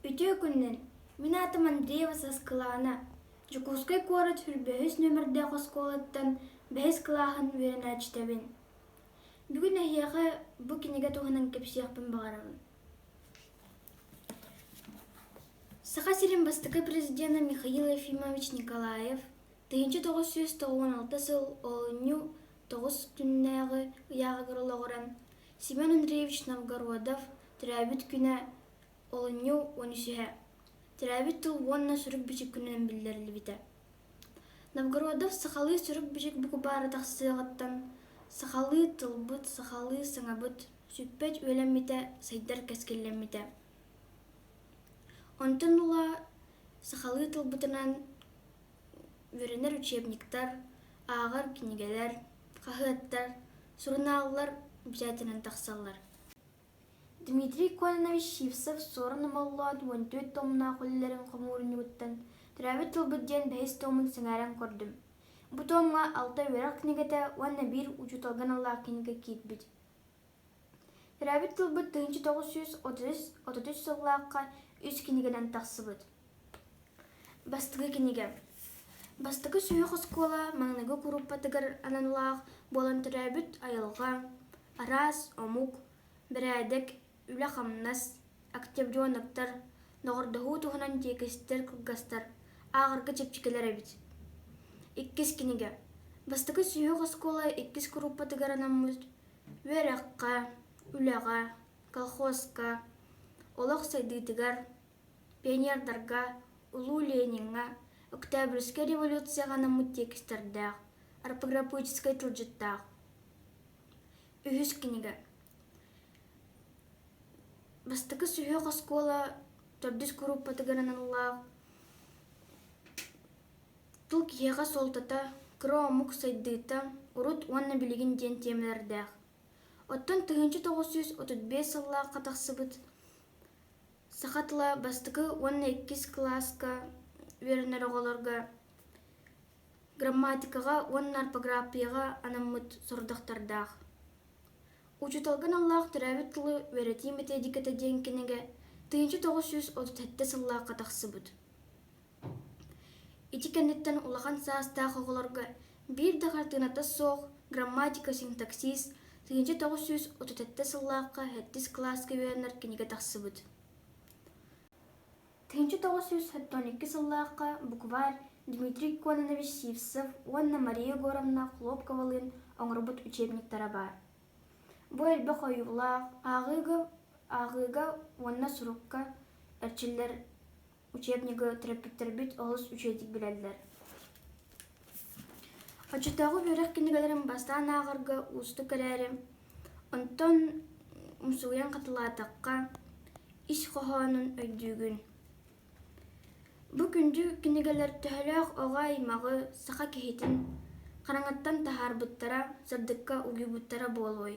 Үтүө күннэр! Мин аатым Андреева Саскылаана. Дьокуускай куорат бэһис нүөмэрдээх оскуолаттан бэһис кылааһын үөрэнээччитэбин. Бүгүн эһиэхэ бу кинигэ туһунан кэпсиэхпин баҕарабын. Саха сирин бастакы президенэ Михаил Ефимович Николаев тыһыынча тоҕус сүүс тоҕуон алта сыл олунньу тоҕус күннээҕи ыйааҕыгар олоҕуран Семен Андреевич Новгородов төрөөбүт күнэ олунньу уон үсүһэ төрөөбүт тыл уонна сурук-бичик күнүнэн биллэриллибитэ Новгородов сахалыы сурук-бичик букубаары тахсыаҕыттан сахалыы тылбыт сахалыы саҥабыт сүппэт үөлэммитэ сайдар кэскиллэммитэ онтон ыла сахалыы тылбытынан Үөрэнэр учебниктар, ааҕар кинигэлэр, хаһыаттар, сурунааллар обязательно тахсаллар. Дмитрий Кононович Сивцев-Суорун Омоллоон уон түөрт томнаах үлэлэрин хомуурунньугуттан «Төрөөбүт тылбыт» диэн бэһис томун сэҥээрэн көрдүм. Бу томҥо алта үөрэх кинигэтэ уонна биир учууталга аналлаах кинигэ киирбит төрөөбүт тылбыт тыһыынча тоҕус сүүс отuz отут үс сыллаахха үс кинигэнэн тахсыбыт бастакы кинигэ бастакы сүһүөх оскуола маҥнайгы курууппатыгар анан улаах буолан төрөөбүт айылҕа араас омук бэрээдэк үлэ-хамнас октябрёновтар доҕордоһуу туһунан тиэкистэр кылгастар ааҕарга чэпчэкилэр эбит иккис кинигэ бастакы сүһүөх оскуола иккис курууппатыгар анаммыт үөрэххэ, үлэҕэ, колхозка, олох сайдыытыгар, пионердарга, Улуу Лениҥҥэ, Октябрьскай революцияҕа анаммыт тиэкистэрдээх, арпагырапыческай тылдьыттаах. Үһүс кинигэ Бастакы сүһүөх оскуола төрдүс курууппатыгар аналлаах тыл киһиэхэ суолтата кыра омук сайдыыта урут уонна билигин диэн тиэмэлэрдээх оттон тыһыынча тоҕус сүүс отут биэс сыллаахха тахсыбыт саха тыла бастакы уонна иккис кылааска үөрэнэр оҕолорго грамматикаҕа уонна орфографияҕа анаммыт сорудахтардаах учууталга аналлаах төрөөбүт тылы үөрэтии методиката диэн кинигэ тыһыынча тоҕус сүүс отут сэттэ сыллаахха тахсыбыт Ити кэнниттэн улахан саастаах оҕолорго биир да хартыыната суох грамматика-синтаксис тыһыынча тоҕус сүүс отут сэттэ сыллаахха сэттис кылааска үөрэнэр кинигэ тахсыбыт тыһыынча тоҕус сүүс сэттэ он икки сыллаахха букварь Дмитрий Кононович Сивцев уонна Мария Егоровна Хлопковалыын оҥорбут учебниктара баар бу элбэх ойуулаах ааҕыыга ааҕыыга уонна сурукка эрчиллэр учебнигы төрөппүттэрбит олус үчүгэйдик билэллэр Оччотооҕу үөрэх кинигэлэрин бастаан ааҕарга уустук эрээри, онтон умсугуйан хатылаатахха, ис хоһоонун өйдүүгүн. Бу күндү кинигэлэр төһөлөөх оҕо аймаҕы саха киһитин хараҥаттан таһаарбыттара сырдыкка угуйбуттара буолуой?